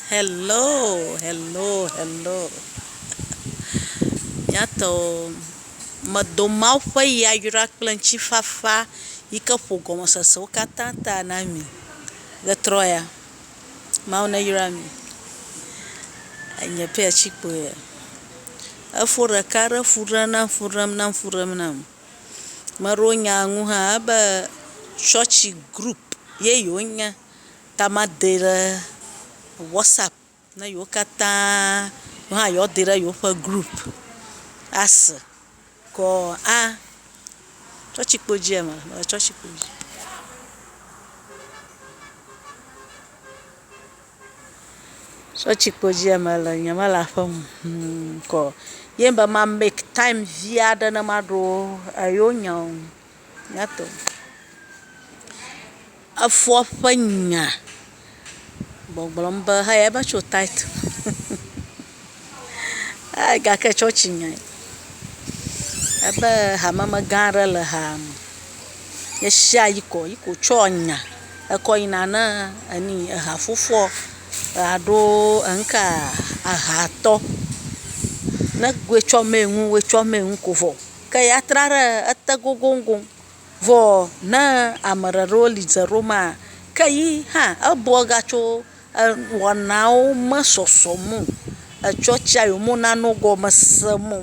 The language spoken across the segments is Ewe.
Hello hello hello miatɔwo medo mawu ƒe yayra kple ŋtifafa yike ƒo gɔmesesewo katã ta na mi ɣetrɔ ya mawu ne yra mi enye pɛ tsi kpoe ya efo ɖeka ɖe fu ɖem nam fu ɖem nam fu ɖem nam meɖewo nya ŋu hã be tsɔtsi group ye yewo nye Ta madee ɖe WhatsApp ne yewo katã wo hã yewoa dee ɖe yewoƒe group ase kɔ a tsɔtsikpo dzi eme le tsɔtsikpo dzi. Tsɔtsikpo dzi eme le nye me le aƒe me hum kɔ ye be ma make time vi aɖe ne maɖo yewo nya o. Nyato. Efoa ƒe nya gbɔgblɔm be haya va tso tithe me eh gake tsɔtsi nyae ebe hamemegã aɖe le haa me ye sia yi kɔ yi ko tsɔ nya ekɔ yina ne eni eha fofoa alo eŋka ehatɔ ne goe tsɔ mee nu woe tsɔ mee nu ko vɔ ke ya tra ɖe ete gogoŋgoŋ. Vɔ ne ame ɖeɖewo li dze ɖo maa, ke yi hã ebɔ gatso wɔnawo me sɔsɔ mo, etsɔ tsia yo mo na no gɔme se mo.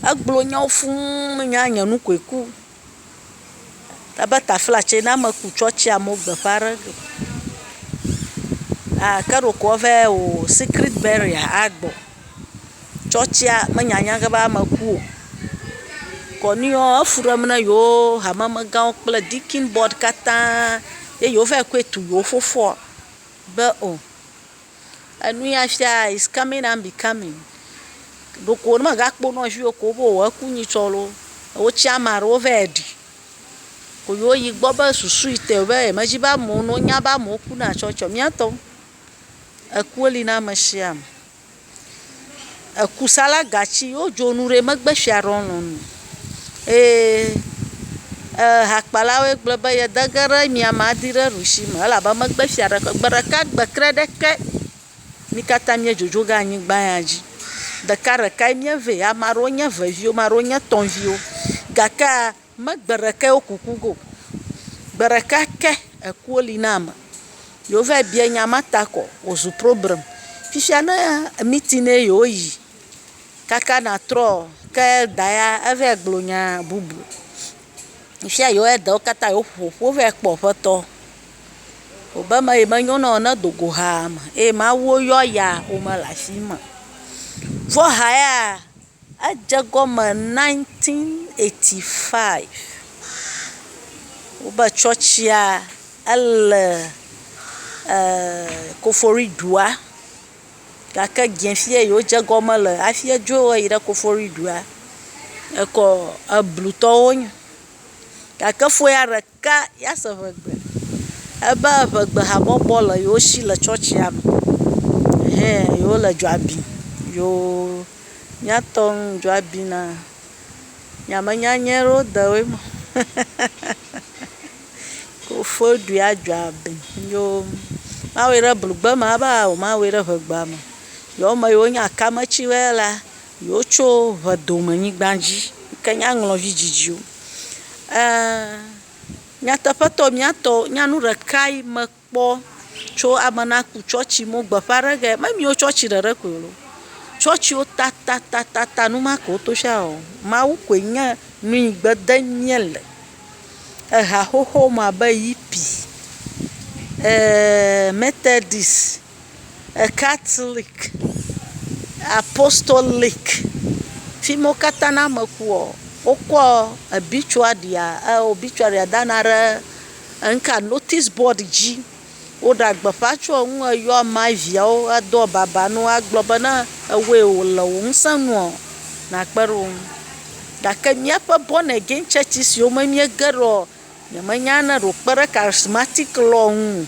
Egblɔ nyawo fũ me nya nye nu koe ku. Ebe tafla tse na me ku tsɔ tsia mo gbe ƒa ɖe go. Ake ɖeko ɔvɛ o secret burial a gbɔ. tsɔtsia menya nya ge be ame ku o. Kɔnuiɔ, efu ɖem na yewo hamemegãwo kple Dikin board katã ye yewo va yi kɔe tu yewo fofoɔ be o, enu ya fia is coming and becoming. Ɖeko ne mègakpɔ nɔ vi ɖeko be o eku nyi tsɔ loo, wotsia ama ɖewo va yi ɖi. Ko yewo yi gbɔ be susu yi te be yemedzi be amewo nonyawo be amewo kuna tsɔtsiɔ, míatɔ. Ekuwo li na ame sia ame. Ekusala gatsi wo dzo nu ɖe me gbe fia ɖewo lɔn o. Eye ehakpala woe gblɔ be ye de ge ɖe mia ma di ɖe ɖusi me elabe me gbe fia ɖe gbe ɖeka gbe tre ɖe ke. Mi kata mie dzodzo ge anyigba ya dzi. Ɖeka ɖeka ye mie ve. Ame aɖewo nye eve viwo, ame aɖewo nye tɔ viwo gakea. Me gbe ɖekɛ wo kuku go. Gbe ɖeka ke ekuo li na ame. Yewo va yi biae nya ma ta kɔ wozu problem. Fifia ne meeting ne ye wo yi kaka na trɔ ke elder ya eva yi gblɔ nya bubu. Fifia yewo elder wo kata yewo ƒo ƒu va yi kpɔ ƒetɔ. Wo be eme yi me nyo na wo ne do go hame eye mawu wo yɔ ya wo me le afi ma o. Vɔ ha ya. Edze egɔme nineteen eighty five wobe tsɔtsia ele e kofori dua gake dzefia yi wodze egɔme le hafi edzo eyi ɖe kofori dua ekɔ eblutɔwo nyo gake foya ɖe. Ke yease ŋegbe. Ebe ŋegbehabɔbɔ le yewo shi le tsɔtsia me. Hɛ yewole dzoa bim. Yoo, mía tɔ ŋ, dzoa bi na. Nye ame nyanyɛ ɖewo de woe me. Kofɔe ɖui a dzoa bi ŋ. Yoo, mawɔe ɖe blugbe me ava o, mawɔe ɖe ŋegba me. Yewo me yi wonye akametsi wɛ la. Yewo tso ʋedome nyigba dzi yike nye aŋlɔvi dzidziwo. E, nyateƒetɔ, mía tɔ, nya nu ɖekae me kpɔ tso ame na ku tsɔtsi me wo gbeƒã ɖe ge. Me miwo tsɔtsi ɖeɖe koe loo. Tsɔtsiwo tatatatata nu ma ke wo to sia wɔm. Mawu koe nye nu yi gbe de mía le. Eha xoxo me abe yipi, e, mɛtɛdis. Ekatlik, apostolic, fima wo katã ne ame ku ɔ, wokɔ ebitsuaria e obitsuaria dana ɖe eŋka notisi bɔd dzi. Woɖe agbeƒa tso eŋu eyɔ ama eveawo ado ababa na wo agblɔ be ne ewɔe wo le wò ŋusẽ nu ɔ nakpe ɖe wo ŋu. Gake míaƒe bɔn again tsɔtsi siwo me míege ɖo ɔ Nyemenya ne ɖe wòkpe ɖe charismatic law ŋu o.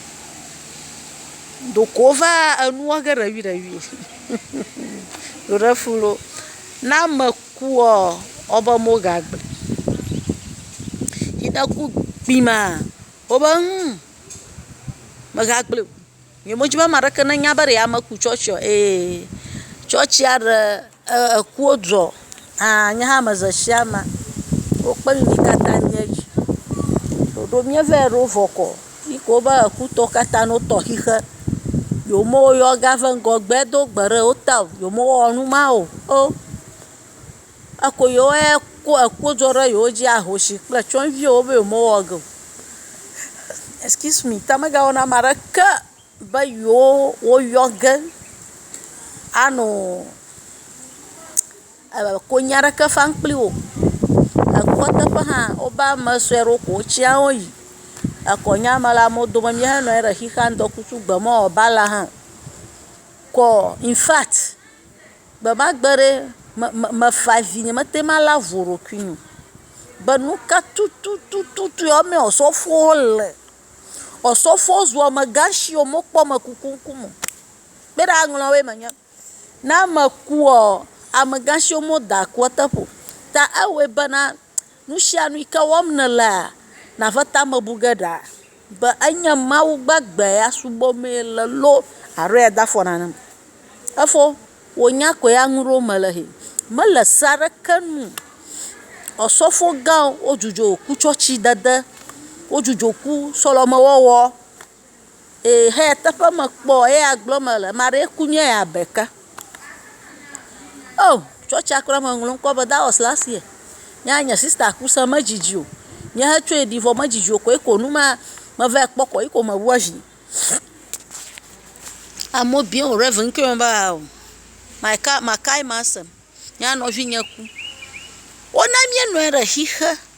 Ɖeko wova enua ge ɖeviɖevi. Ɖo ɖe fu loo. Ne ame kua, wobe megagblɔe o. Yi ne ku kpi maa, wobe humm, megagblɔe o. Nye me dzi be ame aɖeke ne nya be ɖe ame ku tsɔtsia o. Eye tsɔtsia ɖe ekuwo dzɔ hã nye hã me ze sia me wo kpe nuyi katã mía dzi. Ɖoɖo mía vɛ ɖo vɔ kɔ yi ke wobe eku tɔ katã no tɔ xixe. Yewo me yɔ ga ve ŋgɔgbe do gbe ɖe wo ta o. Yewo me wɔ numa o. Eko yewo ye ko ekpo dzɔ ɖe yewo dzi ahosi kple tsyɔ̃eviwo be yewomewɔ ge o. Excuse me, ta megawɔ na ame aɖeke be yewo woyɔ ge ano e konyi aɖeke fam kpli wo o. Ekɔ teƒe hã woba ame sue aɖewo ko wotsya wo yi. Ekɔnya me la, amewo dome míehenɔ anyi ɖe xixeam ŋdɔkutsu gbe mɔ woaba la hã o. Kɔ infact. Gbemagbe ɖe, mefa vi nyemete ŋu alé avu o ɖokui nu be nuka tututu wamee osɔfowo le. Osɔfowo zu amegã si o, mekpɔ ame kuku ŋkume o. Kpe ɖe aŋlɔ woe me nye, ne ame kua, amegã siwo me woda kua teƒe o. Ta ewɔe bena. Nusianu yike wɔm nèlea, nàve tame bu ge ɖa be enye Mawu gbagbe ya subɔmee le loo alo ya dafɔ nanem o. Efo wò nya koe ya nuɖewo me le hɛ. Mele se aɖeke nu o. Osɔfo gãwo dzudzɔ kutsɔtsi dede, wodzudzɔ ku sɔleme wɔwɔ. Ehe teƒe mekpɔ eya gblɔ me le ame aɖee ku nye ya ɖeka. O tsɔtsia kura me ŋlɔ ŋkɔ be that was last year. Nye ya nye sista ku se medzidzi o. Nye he tsɔe ɖi vɔ medzidzi o koe ko nu ma meva kpɔ koa yi ko me wu azi. Amewo biɔ wo ɖe ŋkɔ me be ao my ka makae ma sem. Nye ya nɔvi nye ku. Wona mía nɔe ɖe xixe.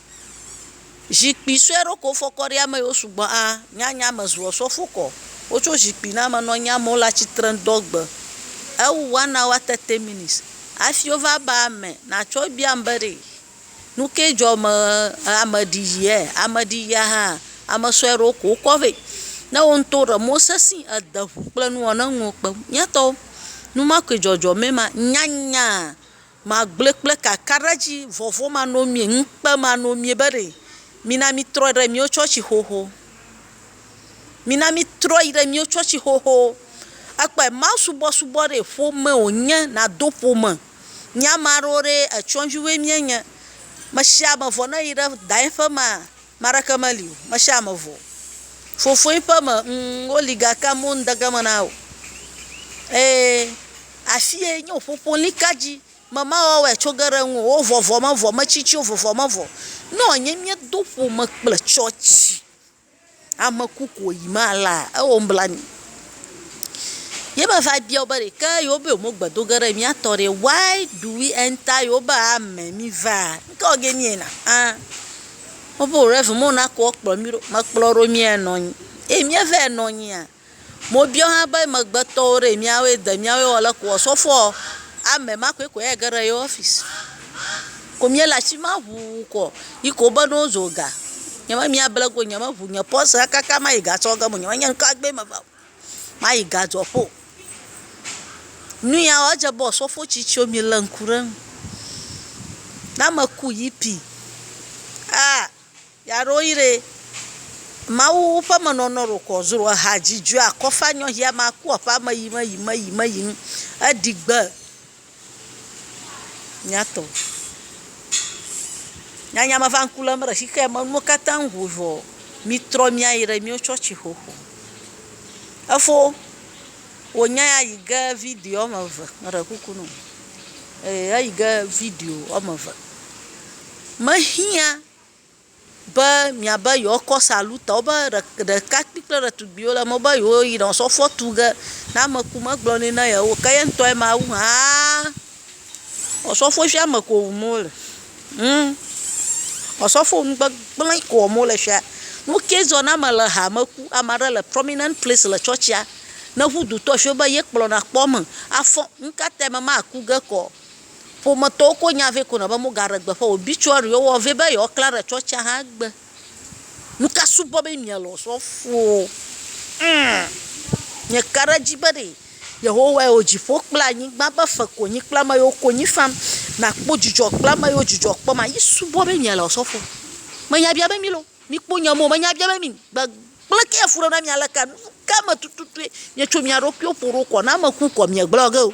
Zikpui sue ɖo ko fɔ kɔ ɖi ame yiwo sugbɔ a nya nya me zuɔ sɔ fo kɔ. Wo tso zikpui na me nɔ nya me wo le atsitre ŋ dɔ gbe ewu one hour thirty minutes afi wo va ba ame na tsɔ bia ŋ be ɖe nuke dzɔ me ame ɖi yi e ame ɖi yia hã ame sue ɖe wo ko wo kɔ vɛ. Ne wo ŋtɔ ɖe mɔ sesi ede ŋu kple nuwɔ ne nuwo kpe. Mía tɔwo numakui dzɔdzɔ mɛ ma nya nya. Magblɔe kple kakaɖedzi, vɔvɔ̃manɔmee, ŋukpemanɔmee be ɖe mina mítrɔ ɖe míwo tsɔtsi xoxo. Mina mítrɔ yi ɖe míwo tsɔtsi xoxo. Ekpɔe, mawusubɔsubɔ ɖee ƒome wònye, nàdo ƒome. Mía ame aɖewo ɖee, etyɔdzuwoe míenye. Mesiame vɔ ne yi ɖe daye ƒe mea, Me aɖeke meli o, mesi ame vɔ o. Fofoe ƒe me, ŋ, woli gake amewo ŋde ge me na o. Eye afie nye wò ƒoƒo lika dzi. Me mawɔwɔe tso ge ɖe ŋuwò o. Wo vɔ vɔ me vɔ, metsi tsi wo vɔ me vɔ. Nɔ nye miedo ƒome kple tsɔtsi, ame ku ko yi mala, ewɔ nublanui. Ye me va bia wo be ɖeke yewo be yewo gbe do ge ɖe mía tɔ ɖe, why do we enter yewo be ame mi va? Ŋkɔ ge nie na? An. Wobe rɛvu mɔ na kɔ kplɔ mí ɖo. Mekplɔ ɖo mía nɔ anyi. Eyi mía vaɛ nɔ anyia? Mo biɔ hã be megbetɔwo ɖee míawoe de míawoe wɔ le kua? Sɔfɔɔ, amɛ ma koe kɔɛ age ɖe yewɔ ɔfisi. Ko mía le ashi ma ŋuu kɔ. Yi ke wobe ne wozo ga. Nye be mía ble go, nye me ŋu nye pɔsɛ kaka ma yi gasɔ ge mo. Nye me nye ŋka gbɛ me va o. Mayi gadzɔƒo. Nuya edze abe osɔfo tsitsiwo mi le ŋku ɖe eŋu. Ne ame ku yipi aa ya ɖo yi ɖee. Mawu ƒe menɔnɔ ɖo kɔ zro eha dzi dzoea kɔfa nyɔ hia ma ku eƒe ame yi me yi me yi me yi ŋ. Eɖi gbe. Nyatɔ. Nyanya me va ŋku lém ɖe shi ke me nuwo katã ŋu vɔ mitrɔ mia yi ɖe mio tsɔtsi xoxo. Efo wo nya ya yi ge video wɔme eve me ɖe kuku na wo. E eyi ge video wɔme eve me hiã. Be miabe yewoakɔ psalutawo be ɖekakpui kple ɖetugbuiwo le eme be yewoyi nɔ sɔfoa tu ge. Ne ame ku megblɔ nɛ na yewo o ke ye ŋutɔ ma wu hã osɔfoa fia ame ko wum wole. Humm. Osɔfo nu gbegblẽ ko wɔm wole fia. Nu ke zɔ ne ame le hame ku, ame aɖe le prominent place le tsɔtsia, ne ŋu dutɔ efia wo be ye kplɔna kpɔ eme afɔ. Nu ka tae ame ma aku ge kɔ? Ƒometɔwo ko nya vɛ kuna be mogaɖe gbeƒã obituary wo vɛ be yewoaklã ɖe tsɔtsia hã gbe. Nuka subɔ be miele osɔfowo? Ŋm! Mieka ɖe edzi be ɖe Yehowae wɔ dziƒo kple anyigba be fe konyi kple ame yiwo konyi fam, nakpɔ dzidzɔ kple ame yiwo dzidzɔ kpɔma? Ye subɔ be miele osɔfo? Menya bia be mi loo, mikpɔ nya me o, menya bia be mi gbegblẽ ke efuɖem na mi aleka? Nuka me tututue mietsɔ mia ɖokuiwo ƒo ɖo kɔ ne ame ku kɔ miegblɔ ge o?